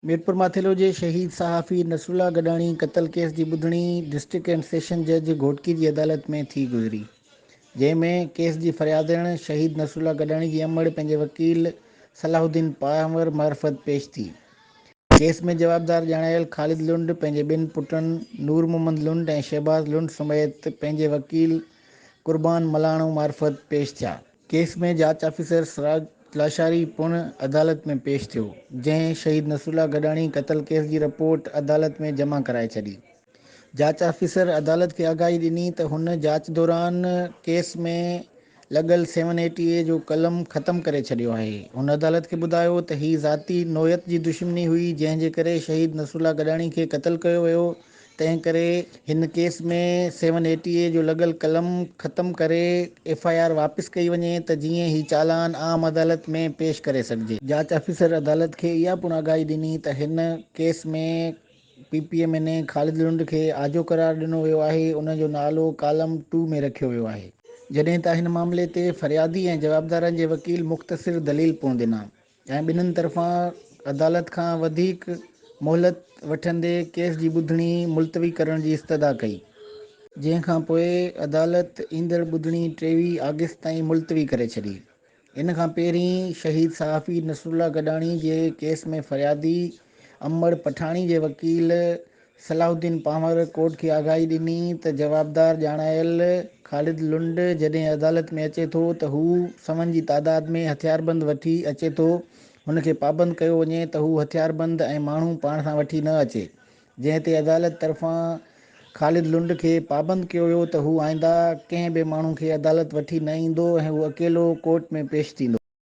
ميرپورماٿيلو جي شهيد صحافي نصرالله گڏاڻي قتل ڪيس جي ٻڌڻي ڊسٽرڪٽ اينڊ سيشن جج گهوٽڪي جي عدالت ۾ ٿي گذري جنهن ۾ ڪيس جي فريادڻ شهيد نصرالله گڏاڻي جي امڙ پنهنجي وڪيل صلاح الدين پنهور معرفت پيش ٿي ڪيس ۾ جوابدار ڄاڻايل خالد لنڊ پنهنجي ٻن پٽن نور محمد لنڊ ۽ شهباز لنڊ سميت پنهنجي وڪيل قربان ملاڻو معرفت پيش ٿيا. ڪيس ۾ جاچ آفيسر سراج لاشاري پڻ عدالت ۾ پيش ٿيو، جنهن شهيد نصرالله گڏاڻي قتل ڪيس جي رپورٽ عدالت ۾ جمع ڪرائي ڇڏي. جاچ آفيسر عدالت کي آگاهي ڏني ته هن جاچ دوران ڪيس ۾ لڳل سيون ايٽي اي جو قلم ختم ڪري ڇڏيو آهي. هن عدالت کي ٻڌايو ته هي ذاتي نوعيت جي دشمني هئي، جنهن جي ڪري شهيد نصرالله گڏاڻي کي قتل ڪيو ويو، تنهن ڪري هن ڪيس ۾ سيون ايٽي اي جو لڳل قلم ختم ڪري ايف آء آر واپس ڪئي وڃي ته جيئن هي چالان عام عدالت ۾ پيش ڪري سگهجي. جاچ آفيسر عدالت کي اها پڻ آگاهي ڏني ته هن ڪيس ۾ P P M N A Khalid Lund کي آجو قرار ڏنو ويو آهي، ان جو نالو ڪالم ٽو ۾ رکيو ويو آهي. جڏهن ته هن معاملي تي فريادي ۽ جوابدارن جي وڪيل مختصر دليل پڻ ڏنا. ۽ ٻنهن طرفان عدالت کان وڌيڪ مهلت وٺندي ڪيس جي ٻڌڻي ملتوي ڪرڻ جي استدعا ڪئي، جنهن کان پوء عدالت ايندڙ ٻڌڻي ٽيويهه آگسٽ تائين ملتوي ڪري ڇڏي. ان کان پهرين شهيد صحافي نصرالله گڏاڻي جي ڪيس ۾ فريادي امڙ پٺاڻي جي وڪيل صلاح الدين پنهور ڪورٽ کي آگاهي ڏني ته جوابدار ڄاڻايل خالد لنڊ جڏهن عدالت ۾ اچي ٿو ته هو سون جي تعداد ۾ هٿياربند وٺي اچي ٿو هن کي پابند ڪيو وڃي ته هو هٿياربند ۽ ماڻهو پاڻ سان وٺي نه اچي جنهن تي عدالت طرفان خالد لنڊ کي پابند ڪيو ويو ته هو آئنده ڪنهن به ماڻهو کي عدالت وٺي نه ايندو ۽ هو اڪيلو ڪورٽ ۾ پيش ٿيندو.